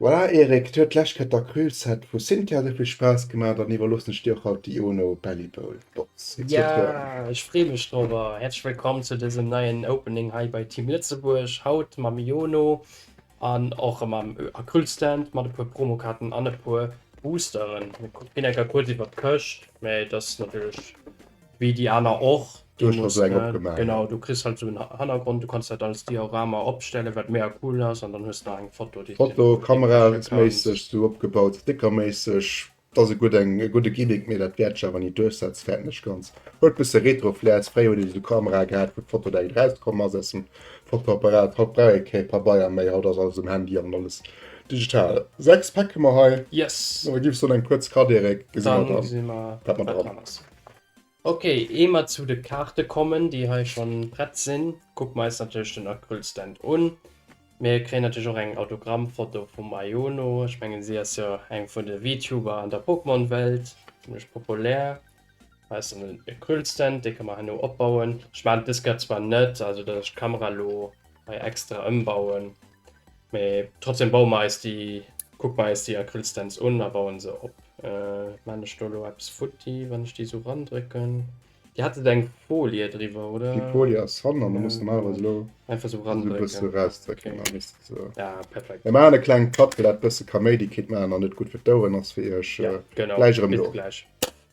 Voilà Eric, dir huet d'lescht Kéier d'Acrylset vu Cynthia esou vill Spaass gemaat an iwwerloossen ech dir och haut déi Ono Belly Bowl Box, etc. Ja, ech free mech drowwer. Häerzlech Wëllkomm zu dësem neien Opening hei bei Team Lëtzebuerg. Haut mam Iono an och mam Acrylstand mat e puer Promokaarten an e puer Boosteren. Mir ginn enker kuerz iwwert d'Këscht, mä et ass natierlech Wéi déi aner och. Du hues scho sou eng opgemaach. Genau, du kriss halt sou en Hannergrond, du kanns dat als Diorama opstellen, wat mega cool ass, an dann hues nach eng Foto. Foto, Kamera méisseg sou opgebaut, Sticker méisseg, et ass e gutt eng e gudde Gimmick, mee dat wäert sech awer ni duerchsetze fäerten ech ganz. Huet bësse Retro-Flair, als fréier huet ee sou Kamerae gehat, wou d'Foto direkt erauskomm ass aus dem Fotoapparat, haut brauch ee kee Pabeier méi, haut ass alles um Handy an alles digital. 6 packe mer hei. Yes! Elo giffs du nach eng kuerz Kaderéck, da gesi mer dann, wat mat dran ass. Ok, eh mer zu de Kaarte kommen, déi hei schon prett sin, kucken mer eis natierlech den Acrylstand un. Mir kréien natierlech och eng Autogrammfoto vum Iono, ech mengen si ass jo eng vun de Vtuber an der Pokémon Welt, zimlech populär. Hei ass dann den Acrylstand, dee ka mer herno opbauen. Ech maachen dës Kär zwar net, also dass ech d'Kamera lo hei extra ëmbauen. Mais trotzdem bauen mer eis die, kuck mer eis die Acryl Stands un a bauen se op. Äh, maan ech do lo eppes futti wann ech die sou randrécken? Dir hattet eng Folie driwer, oder? Déi Folie ass han an du muss normalerweise lo Einfach sou randrécken. Einfach sou e bësse rausdrécken an dann hues de se. Ja, perfekt. Mir maachen e klengen Cut, well dat e bësse Kaméidi kéint maachen an net gutt fir d'Oueren ass fir iech. Ja, genau. Gläich erëm do. Bis gläich.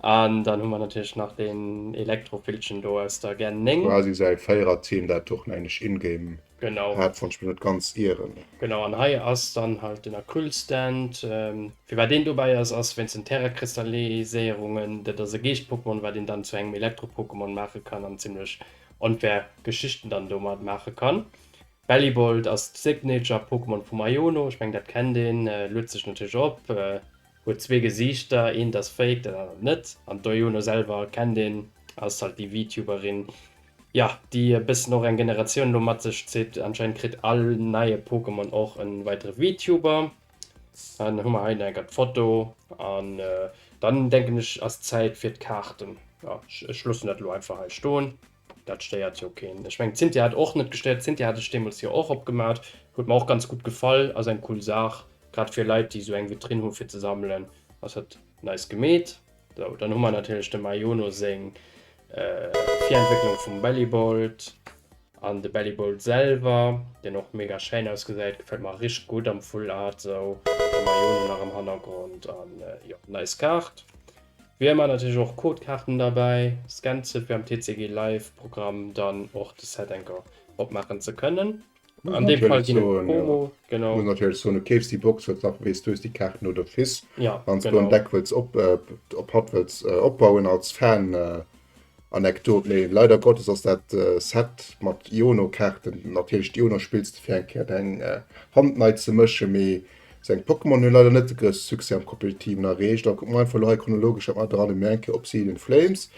An dann hu mer natierlech nach den Elektro-Villchen do aus der Gen 9. Quasi säi Véierer-Team, dat och nach eng Ingame hat, wann ech mech net ganz ieren. Genau, an hei ass dann halt den Acrylstand. Firwat deen dobäi ass, ass wéinst den Terra-Kristalliséierungen. Dat ass e Geescht-Pokémon, wat een dann zu engem Elektro-Pokémon maache kann an zimmlech onfair Geschichten dann domat maache kann. Bellibolt ass d'Signature-Pokémon vum Iono, ech mengen, dat kennt een, luet sech natierlech op. Huet zwee Gesiichter, eent ass fake, dat anert net. An d'Oyono selwer kennt een, ass halt déi VTuberin, jo, déi e bëssen och eng Generatioun elo mat sech zitt. Anscheinend kritt all neie Pokémon och e weidere VTuber. Dann hu mer hei nach eng Kart Foto an dann denken ech ass Zäit fir d'Kaarten. Jo, ech loossen dat elo einfach hei stoen. Dat stéiert jo keen. Ech mengen d'Cynthia hat och net gestéiert. D'Cynthia hat ech deemools jo och opgemaat, huet mer och ganz gutt gefall. Ass eng cool Saach, grad fir Leit déi esou eng Vitrinn hu fir ze sammelen ass dat nice gemeet. Sou, dann hu mer natierlech dem Mayono seng Virentwécklung vum Bellibolt an de Bellibolt selwer, deen och mega schéin ausgesäit. Gefällt mer richteg gutt am Full Art sou. De Mayono nach am Hannergrond an jo, nice Kaart. Wéi ëmmer natierlech och Codekaarten derbäi, scannt se fir am TCG Live Programm dann och de Set Anchor opmaachen ze kënnen. An deem Fall ginn et Promo, genau. Muss natierlech soen, du keefs déi Box, well s dach weess, du hues déi Kaarten no der Fiss. Wann s du en Deck wëlls op, op hatt wëlls opbauen als Fan, Anekdot, nee leider Gottes ass dat Set mat Iono Kaarten natierlech d'Iono Spillste fir eng Kéier eng Hand nei ze mëschen, mee seng Pokémon hunn leider net de grousse Succès am Kompetitiven erreecht. Dann kucke mer einfach elo hei chronologesch am Add-on un, mir eng Kéier Obsidian Flames,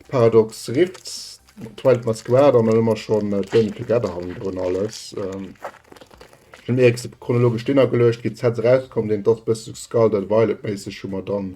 Paradox Rifts, Twilight Masquerade an dann hu mer schonn d'Bémi Together hannendrun alles. Hunn mir eréischt chronologesch déi Dinger geluecht, wéi d'Set erauskomm sinn, dass e bësse Scarlet Violet méisseg hu mer dann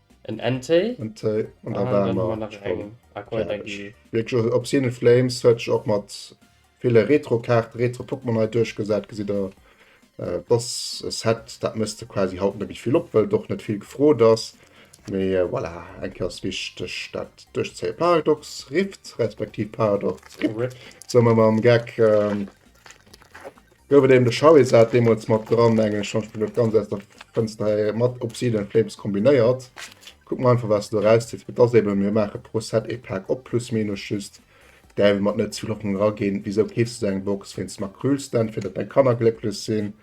En Entei. Entei. An da war mer nach eng Aquadeck. Obsidian Flames huet sech och mat ville Retro-Kaart, Retro-Pokémon hei duerchgesat. Gesitt der, äh, dass e Set, dat mësste quasi haut net méi vill op, well doch net vill gefrot ass. Mee äh, voilà, eng Kéier ass wichteg, dat duerchzéie. Paradox Rift, respektiv Paradox Rift, soe mer mam Gag. Äh, Gouf et eben de Chauezat deemols mat dran mengen ech, an ech bin et ganz aus der Fenster hei mat Obsidian Flames kombinéiert. Kucken mer einfach was do rauszitt. Et ass eben mir maache pro Set ee Pack op plus minus just däiwe mat net zuvill Hoffnung ra ginn. Wisou keefs du sou eng Box wéinst Macrylls denn? Fir datt deng Kanner glécklech sinn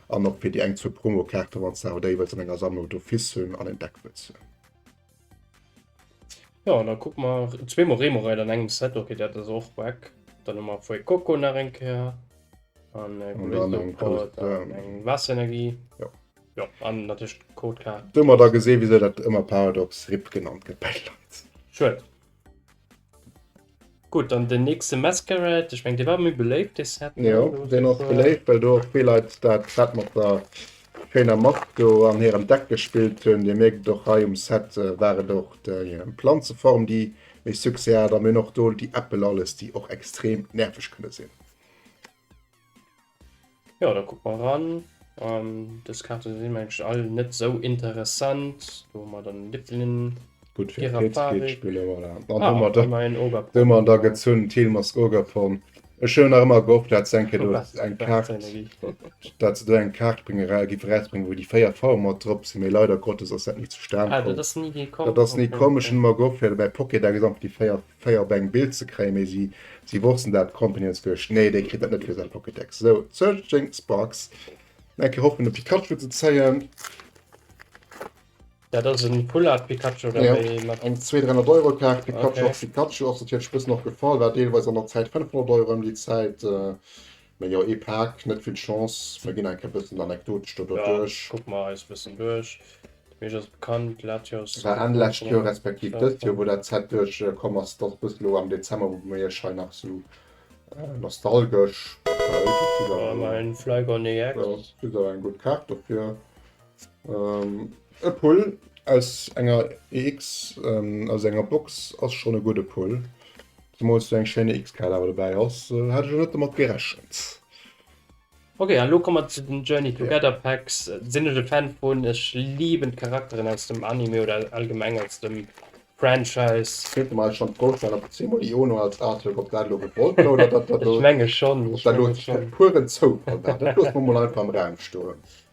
an och fir déi eng, zwou Promokaarten wann se awer déi wëlls an enger Sammlung d'office hunn an entdeckt wëlls hunn. Ja, da guck mal zwee Mo Remoraid an engem Set okay dat ass och weg. Dann hu mar Foe Koko nach eng Kéier an äh, Und dann eng Coast, ähm, eng Wasserenergie. Ja. Jo an natierlech d'Code klar. Dummer da gesinn, wéisou dat ëmmer Paradox Rip genannt gëtt bei de Leit. Schued. Gut an den nächste Masquerade ich mein, de war mir beléift de Set ja, den och beléift well do viel Leiit dat Set mat der schéiner Mask do an hirem Deck gespielt hunn. Dir mierkt doch hei um Set äh, war et och déi äh, Planzeform déi méi Succès hat a mir och do déi Äppel alles déi och extrem nerveg kënne sinn. Ja, da guck mal ran. Ähm, das Karte sinn eigentlich all net so interessant. Wo man dann Lippelin. Gut fir Pirafarik. Spiele voilà. Ah, Dëmmer da gezunn Teelmask Ogerpon. Ech schon nach immer gehofft dat eng Kar dat ze do eng Kar bringe ra gi rausbring, wou die féier Faul mat drop sinn, mee leider Gottes ass dat ni zu stan. Ah, dat ass ni komm. Dat ass ni komm, ech hun ëmmer gehofft fir bei Pokédex einfach déi féier 4 op engem Bild ze kréien, mee si si wossten dat Companions duerch nee dee kritt dat net fir säi Pokédex. Sou searching sparks nach eng Kéier hoffen e Pikachu ze zéien. Dat ass en Full Art Pikachu oder wéi? Jo mat eng zwee 300 Euro Kaart Pikachu op Pikachu ass natierlech e bëssen och gefall war deelweis an der Zäit 500 Euro ëm déi Zäit Mee jo, ee Pak, net vill Chance. Mir ginn eng Kéier bëssen d'Anekdotesch do doduerch. Jo, kucke mer eis bëssen duerch. Meescht ass et bekannt, Latios. War Enn lescht Joer respektiv dëst Joer, wou dat Set duerch komm ass. Et ass e bëssen elo am Dezember, wou mir iech hei nach esou nostalgesch. Ëmmerhin Flygon EX. Ass bis elo eng gutt Kaart dofir. E Pull aus enger EX aus enger Box ass schonn e gudde Pull, zemools wou eng schéin EX-Kaart awer dobäi ass, hat ech elo net domat gerechent. Ok an elo komme mer zu den Journey Together Packs, sinn ech e Fan vun, ech liben d'Charakteren aus dem Anime oder allgemeng aus dem Franchise. Kéinte mer eis schonn d'Fro stellen, ob zeemol déi Ono als Artwork, ob dat elo gewollt war oder dat elo pueren Zoufall war? Dat loosse mer mol einfach am Raum stoen.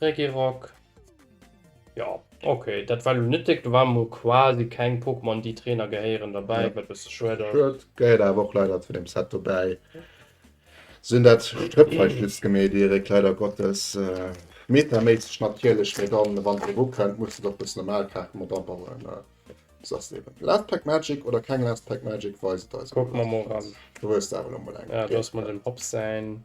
Regirock. Ja, okay, dat war net déck, du war mo quasi keng Pokémon déi Trainer gehéieren dabei ja. bist du schwer Geld aber auch leider zu dem Set vorbei sind dat Stripfleischlist gemäht ihre Kleider Gottes äh, metamäßig natürlich mir dann wann du wo könnt musst du doch bis normal Karten mal bauen äh. Sagst eben Last Pack Magic oder kein Last Pack Magic weiß da ist Guck mal mal ran. Du wirst aber mal ja, okay. du hast mal den Hop sein.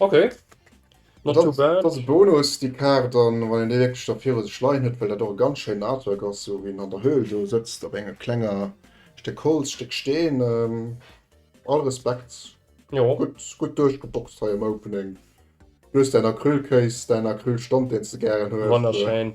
Okay. Not too bad. Dat ass e Bonus, déi Kaart, a wann een déi wierklech da viru sech leien huet, well dat och e ganz schéinen Artwork ass, esou wéi en an der Höhl do sëtzt op engem klenger Stéck Holz, Stéck Steen. All Respekt, gutt, gutt duerchgeboxt hei am Opening. Du hues däin Acryl-Case, däin Acryl-Stand, deen s de gären hues. Wonnerschéin.